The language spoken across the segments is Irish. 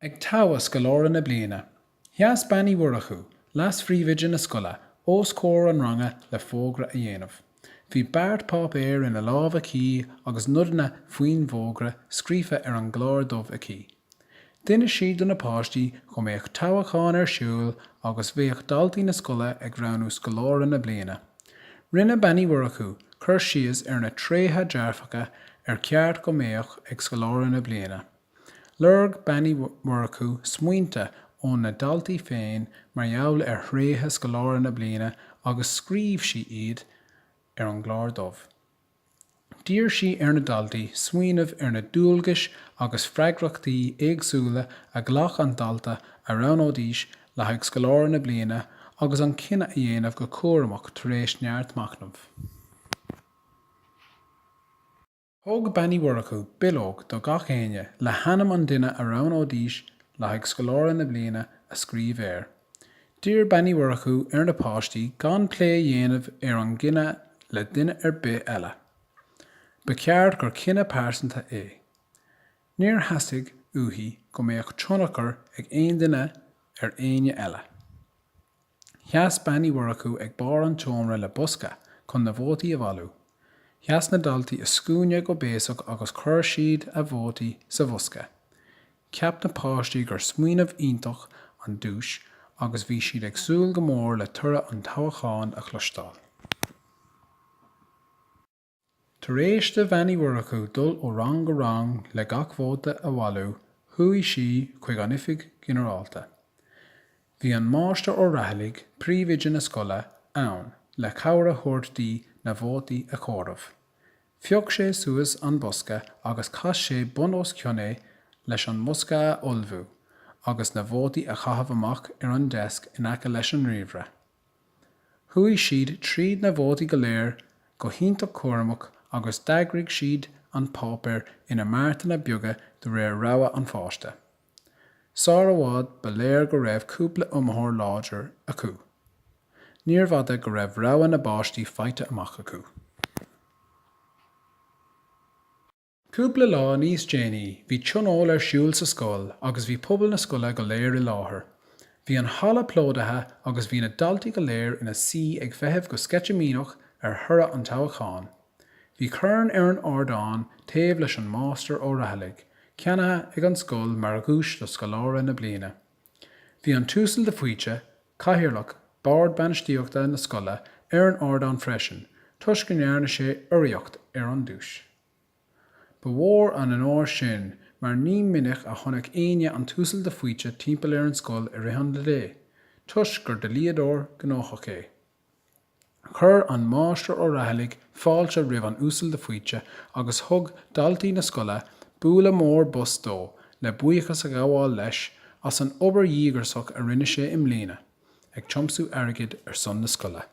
Ag toghadh scoláire na bliana. Sheas Bean Uí Mhurchú, leasphríomhoide na scoile, os comhair an ranga le fógra a dhéanamh. Bhí beart páipéir ina lámh aici agus nodanna faoin bhfógra scríofa ar an gclár dubh aici. D'inis sí do na páistí go mbeadh toghachán ar siúl agus bheadh daltaí na scoile ag roghnú scoláire na bliana. Rinne Bean Uí Mhurchú cur síos ar na tréithe dearfacha ar cheart go mbeadh ag scoláire na bliana. Lorg Bean Uí Mhurchú smaointe ó na daltaí féin mar gheall ar thréithe scoláire na bliana agus scríobh sí iad ar an gclár dubh. D'iarr sí ar na daltaí smaoineamh ar na dualgais agus freagrachtaí éagsúla a ghlac an dalta a roghnóidís le haghaidh scoláire na bliana agus an cinneadh a dhéanamh go cúramach tar éis neart machnaimh. Thug Bean Uí Mhurchú bileog do gach éinne le hainm an duine a roghnóidís le haghaidh Scoláire na Bliana a scríobh air. D'iarr Bean Uí Mhurchú ar na páistí gan plé a dhéanamh ar an gcinneadh le duine ar bith eile. Ba cheart gur cinneadh pearsanta é. Níor theastaigh uaithi go mbeadh tionchar ag aon duine ar éinne eile. Sheas Bean Uí Mhurchú ag barr an tseomra le bosca chun na vótaí a bhailiú. Sheas na daltaí i scuaine go béasach agus chuir siad a vótaí sa bhosca. Cheap na páistí gur smaoineamh iontach an duais agus bhí siad ag súil go mór le toradh an toghacháin a chloisteáil. Tar éis do Bhean Uí Mhurchú dul ó rang go rang le gach vóta a bhailiú chuaigh sí chuig an oifig ghinearálta. Bhí an Máistir Ó Rathailligh, príomhoide na scoile, ann le cabhair a thabhairt di na vótaí a chomhaireamh. Phioc sé suas an bosca agus chas sé bun os cionn é leis an mbosca a fholmhú agus na vótaí a chaitheamh amach ar an deasc in aice leis an ríomhaire. Chuaigh siad tríd na vótaí go léir go hiontach cúramach agus d'eagraigh siad an páipéar ina mbeartanna beaga de réir rogha an pháiste. Sar i bhfad ba léir go raibh cúpla iomaitheoir láidir acu. Níorbh fhada go raibh rogha na bpáistí faighte amach acu. Cúpla lá níos déanaí bhí tionól ar siúl sa scoil agus bhí pobal na scoile go léir i láthair. Bhí an halla plódaithe agus bhí na daltaí go léir ina suí ag feitheamh go sceitimíneach ar thoradh an toghacháin. Bhí corn ar an ardán taobh leis an Máistir Ó Rathailligh, ceannaithe ag an scoil mar dhuais do scoláire na bliana. Bhí an tUasal de Faoite, Cathaoirleach Bord Bainistíochta na scoile ar an ardán freisin toisc go ndearna sé urraíocht ar an duais. Ba mhór an onóir sin mar ní minic a chonaic éinne an tUasal de Faoite timpeall ar an scoil i rith an lae toisc gur dlíodóir gnóthach é. Chuir an Máistir Ó Raghallaigh fáilte roimh an Uasal de Faoite agus thug daltaí na scoile bualadh mór bos dó le buíochas a ghabháil leis as an obair dhíograiseach a rinne sé i mbliana ag tiomsú airgid ar son na scoile.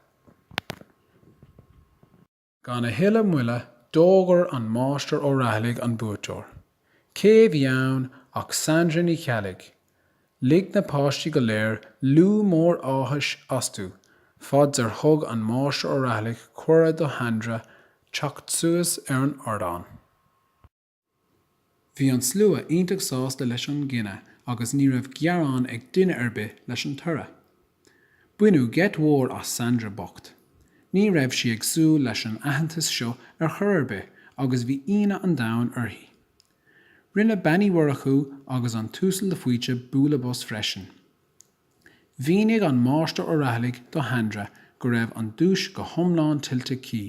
Gan a thuilleadh moille d'fhógair an Máistir Ó Raghallaigh an buaiteoir. Cé a bhí ann ach Sandra Ní Cheallaigh. Lig na páistí go léir liú mór áthais astu, fad ar thug an Máistir Ó Raghallaigh cuireadh do Shandra teacht suas ar an ardán. Bhí an slua iontach sásta leis an gcinneadh agus ní raibh gearán ag duine ar bith leis an toradh. Baineadh geit mhór as Sandra bocht. Ní raibh sí ag súil leis an aitheantas seo ar chor ar bith agus bhí ionadh an domhain uirthi. Rinne Bean Uí Mhurchú agus an tUasal de Faoite bualadh bos freisin. Mhínigh an Máistir Ó Raghallaigh do Shandra go raibh an duais go hiomlán tuillte aici.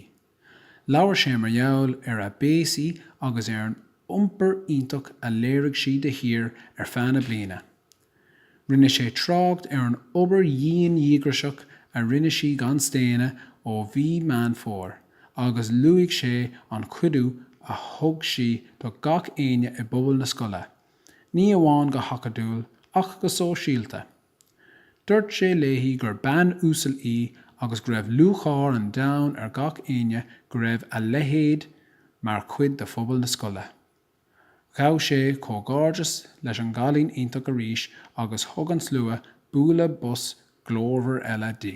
Labhair sé mar gheall ar a béasaí agus ar an iompar iontach a léirigh sí de shíor ar feadh na bliana. Rinne sé trácht ar an obair dhian dhíograiseach a rinne sí gan staonadh ó mhí Meán Fómhair agus luaigh sé an cuidiú a thug sí do gach éinne i bpobal na scoile, ní amháin go hacadúil ach go sóisialta. Dúirt sé léi gur bean uasal í agus go raibh lúcháir an domhain ar gach éinne go raibh a leithéid mar chuid de phobal na scoile. Ghabh sé comhghairdeas leis an gcailín iontach arís agus thug an slua bualadh bos glórmhar eile di.